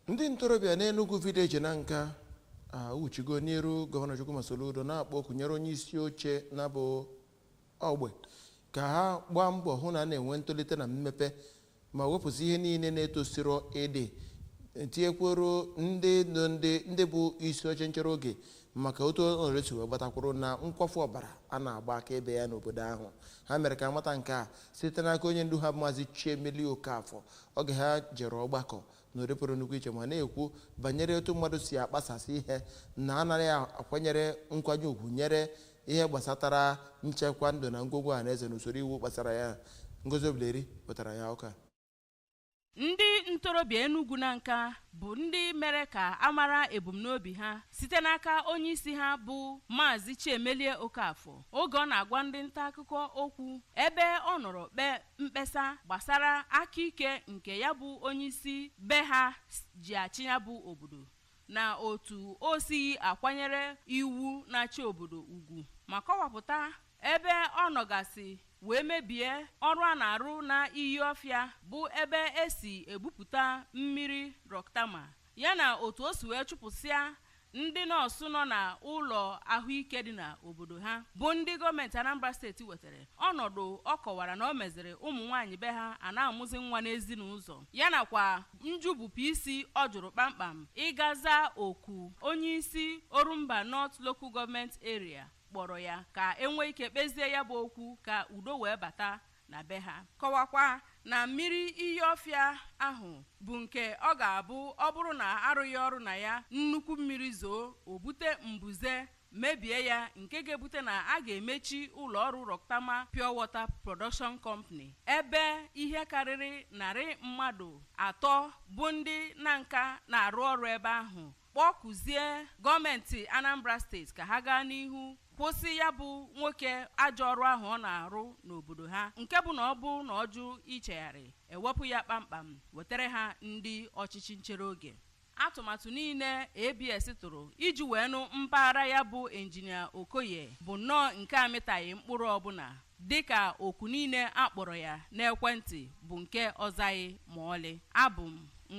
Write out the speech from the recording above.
Ndị ntorobịa n'Enugwu Village Nanka awụchigo n'iru Gọvanọ Chukwuma Soludo na-akpọ oku nyere onye isi oche na ya bụ ogbe ka ha gbaa mbọ hụ na a na-enwe ntolite na mmepe ma wepụsị ihe niile na-etosiro ịdị tinyekwuoro ndị bụ isi oche nchere oge maka otu ọnọdụ si wee gbata kwụrụ na nkwafu ọbara a na-agba akaebe ya n'obodo ahụ ha mere ka amata nke a site n'aka onye ndu ha maazị Chiemelie Okafor oge ha jere ọgbakọ n'ụdị pụrụ nnukwu iche ma na-ekwu banyere otu mmadụ si akpasasị ihe na anaghị akwanyere nkwanye ugwu nyere ihe gbasatara nchekwa ndụ na ngwongwo ọha na eze na usoro iwu gbasara ya Ngozi Obileri pụtara ya ụka ndị ntorobịa Enugwu Nanka bụ ndị mere ka a mara ebumnobi ha site n'aka onye isi ha bụ Maazị Chiemelie Okafor oge ọ na-agwa ndị nta akụkọ okwu ebe ọ nọrọ kpee mkpesa gbasara aka ike nke ya bụ onyeisi be ha ji achị ya bụ obodo na otu o sighi akwanyere iwu na-achị obodo ugwu ma kọwapụta ebe ọ nọgasị wee mebie ọrụ a na-arụ na iyi ọfịa bụ ebe esi ebupụta mmiri Rocktama yana otu o si wee chụpụsịa Ndị nọọsụ nọ na ụlọ ahụike dị na obodo ha bụ ndị gọọmenti Anambra steeti wetara ọnọdụ ọ kọwara na o meziri ụmụnwaanyị be ha a na-amụzi nwa n'ezi na ụzọ ya nakwa njụbụpụ isi ọ jụrụ kpamkpam ịga zaa oku onye isi Orumba North Local Government Area kpọrọ ya ka enwee ike kpezie ya bụ okwu ka udo wee bata na be ha. Kọwakwa na mmiri iyi Ọfịa ahụ bụ nke ọ ga-abụ ọ bụrụ na arụghị ọrụ na ya, nnukwu mmiri zoo, o bute mbuze, mebie ya nke ga-ebute na a ga-emechi ụlọọrụ Rocktama Pure Water Production Company ebe ihe karịrị narị mmadụ atọ bụ ndị Nanka na-arụ ọrụ ebe ahụ kpọkuzie gọọmenti Anambra steeti ka ha gaa n'ihu kwụsị ya bụ nwoke ajọ ọrụ ahụ ọ na-arụ n'obodo ha nke bụ na ọ bụrụ na ọ jụ ichegharị ewepụ ya kpamkpam wetara ha ndị ọchịchị nchere oge atụmatụ niile ABS tụrụ iji wee nụ mpaghara ya bụ injinia Okoye bụ nnọọ nke amịtaghị mkpụrụ ọbụla dịka oku niile akpọrọ ya n'ekwentị bụ nke ọ zaghị ma ọlị abụ m